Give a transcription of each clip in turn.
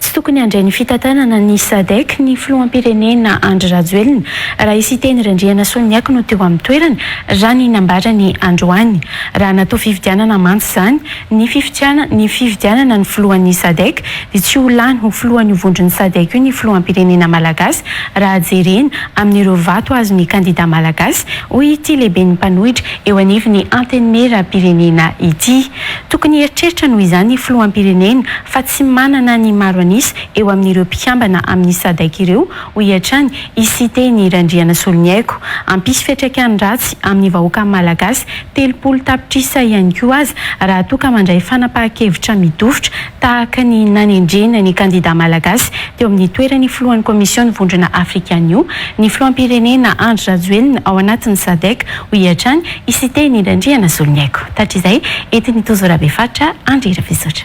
Tsy tokony handray ny fitantanana ny Sadec ny filoham-pirenena Andry Rajoelina raha i Siteny Randrianasoniaiko no teo amin'ny toerany, raha ny nambarany androany. Raha natao fifidianana mantsy izany, ny fifidiana ny fifidianana ny filohan'ny Sadec dia tsy ho lany ho filohan'io vondron'ny Sadec io ny filoham-pirenena malagasy raha jerena amin'ireo vato azon'ny kandida malagasy, hoy ity lehiben'ny mpanohitra eo anivon'ny Antenimieram-pirenena ity. Tokony hieritreritra noho izany ny filoham-pirenena fa tsy manana ny maro an'isa eo amin'ireo mpikambana amin'ny Sadc ireo, hoy hatrany i Siteny Randrianasoloniaiko. Hampisy fiantraikany ratsy amin'ny vahoaka malagasy telopolo tapitrisa ihany koa aza raha toa ka mandray fanapahan-kevitra midofotra tahaka ny nanendrena ny kandida malagasy teo amin'ny toeran'ny filohan'ny Kaomision'ny Vondrona Afrikanio ny filoham-pirenena Andry Rajoelina ao anatin'ny Sadc, hoy hatrany I Siteny indray ndry na zolony haiko. Tatr'izay, entin'i Tojo Rabefaritra Andry Rafisotra.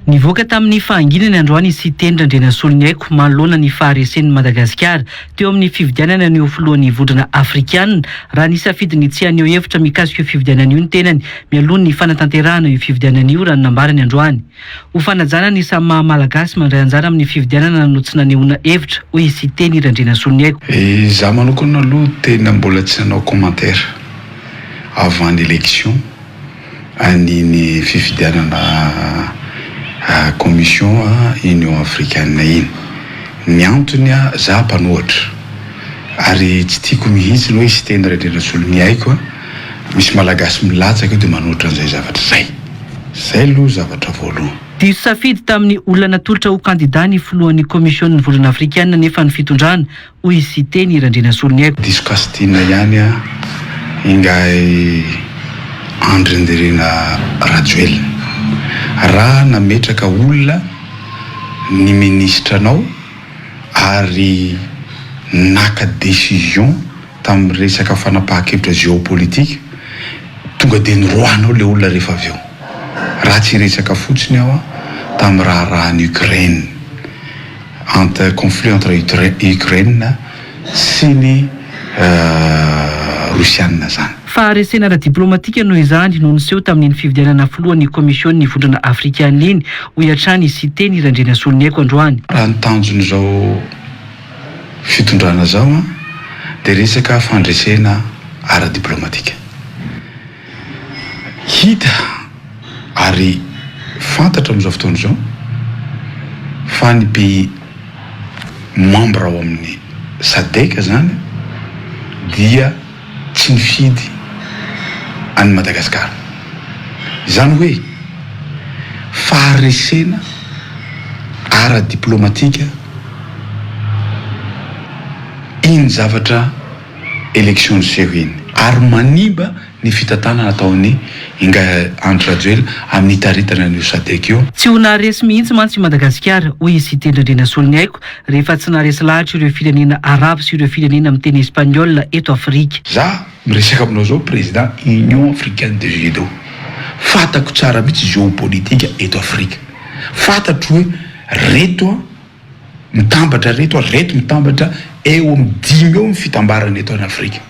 Nivoaka tamin'ny fahanginany androany i Siteny Randrianasoloniaiko manoloana ny faharesen'i Madagasikara teo amin'ny fifidianana ny ho filohan'ny vondrona afrikanina raha nisafidy ny tsy haneho hevitra mikasika io fifidianana io ny tenany mialoha ny fanatanterahana io fifidianana io raha ny nambarany androany. Ho fanajana ny samy maha Malagasy mandray anjara amin'ny fifidianana no tsy nanehoana hevitra, hoy i Siteny Randrianasoniaiko. Izaho manokana aloha tena mbola tsy nanao commentaire avant l'élection an'iny fifidianana commission Union Africaine iny. Ny antony, izaho mpanohatra ary tsy tiako mihitsy, hoy i Siteny Randrianasoniaiko. Misy malagasy milatsaka eo dia manoatra an'izay zavatra izay. Izay aloha zavatra voalohany. Diso safidy tamin'ny olona natolotra ho kandida ny filohan'ny Kaomision'ny vondrona afrikanina anefa ny fitondrana, hoy i Siteny Randrianasoloniaiko. Diso kasintiana ihany an! Ingahy Andry Nirina Rajoelina. Raha nametraka olona ny minisitranao ary naka décision. tamin'ny resaka fanapahan-kevitra géopolitique, tonga dia niroahanao ilay olona rehefa avy eo. Raha tsy hiresaka fotsiny aho tamin'ny raharahan'i Ukraine, entre, conflit entre i Ukraine sy ny Rosiana zany. Faharesena ara-diplaomatika noho izany no niseho tamin'iny fifidianana filohan'ny Kaomision'ny Vondrona Afrikanina iny, hoy hatrany i Siteny Randrianasoloniaiko androany. Raha ny tanjon'izao. fitondrana zao an de resaka fandresena ara diplomatika hita ary fantatra amizao fotoana izao fa ny pays membre ao amin'ny sadec zany dia tsy nifidy an'i Madagasikara. Izany hoe faharesena ara-diplaomatika iny zavatra élections jeux iny ary manimba ny fitantanana ataon'i Ingahy Andry Rajoelina amin'ny hitaritana an'io Sadec io. Tsy ho naharesy mihitsy mantsy i Madagasikara, hoy i Siteny Randrianasoloniaiko. rehefa tsy naharesy lahatra ireo firenena arabo sy ireo firenena miteny espaniola eto Afrika. Za miresaka aminao zao président Union Africaine de Judo. Fatako tsara mihitsy géopolitique eto Afrika. Fatatro hoe reto mitambatra reto ary reto mitambatra eo amin'ny dimy eo ny fitambarana eto an Afrika.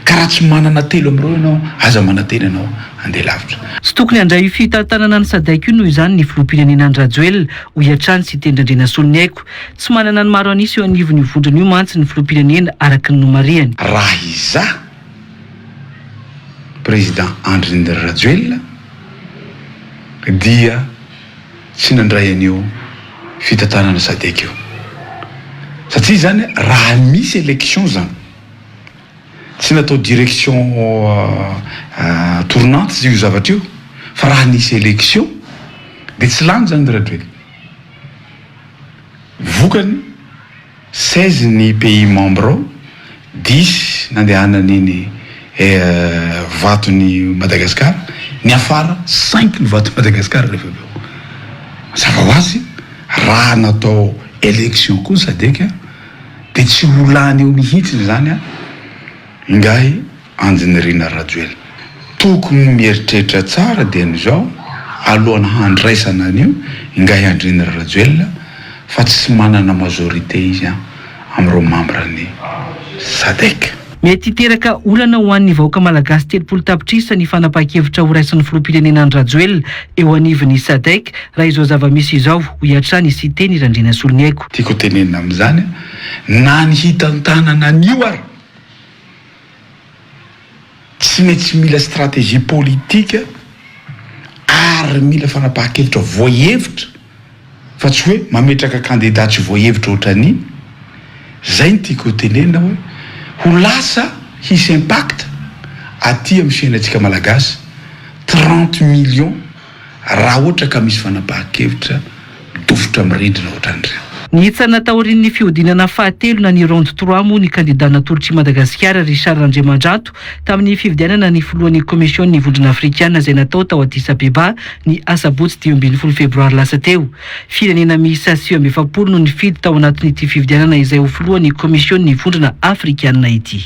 Ka raha tsy manana telo amin'ireo ianao, aza manantena ianao handeha lavitra. Tsy tokony handray io fitantanana ny Sadec io noho izany ny filoham-pirenena An-dRajoelina, hoy hatrany Siteny Randrianasoniaiko. Tsy manana ny maro an'isa eo anivon'io vondrona io mantsy ny filoham-pirenena araka ny nomarihany. Raha izaho Président Andry Rajoelina dia tsy nandray an'io fitantanana Sadec io. Satria izany raha misy élection izany. Tsy natao direction tournante io zavatra io fa raha nisy élection dia tsy lany izany ry Rajoelina. Vokany, seize ny pays membre ao, dix nandehanany iny vaton'i Madagasikara, niafara cinq ny vaton'i Madagasikara rehefa avy eo. Mazava ho azy, raha natao élection koa ny Sadc, Dia tsy ho lany eo mihitsiny izany an! Ingahy Andinirina Rajoelina. Tokony ny mieritreritra tsara dia ny izao, alohan'ny handraisana an'io, Ingahy Andrinira Rajoelina, fa tsy manana majorité izy an! amin'ireo mambran'ny Sadec. Mety hiteraka olana ho an'ny vahoaka malagasy telopolo tapitrisa ny fanapahan-kevitra horaisin'ny filoham-pirenena Andry Rajoelina eo anivon'ny Sadec raha izao zava-misy izao, hoy hatrany i Siteny Randrianasoloniaiko. Tiako ho tenenina amin'izany, na ny hitantanana an'io ary tsy maintsy mila stratégie politique ary mila fanapahan-kevitra voahevitra. fa tsy hoe mametraka kandida tsy voahevitra ohatran'i zay ny tiako hotenenina hoe ho lasa hisy impact aty amin'ny fiainantsika malagasy trente millions raha ohatra ka misy fanapahan-kevitra midofotra amin'ny rindrina ohatran'ireny. Nihitsana taorian'ny fihodinana fahatelo na ny round trois moa ny kandida natolotr'i Madagasikara Richard Randriamandrato tamin'ny fifidianana ny filohan'ny Komision'ny Vondrona Afrikana izay natao tao Addis Abeba Ny asabotsy dimy ambin'ny folo febroary lasa teo, firenena miisa sivy amby efapolo no nifidy tao anatin'ity fifidianana izay ho filohan'ny Komisionin'ny Vondrona Afrikanina ity.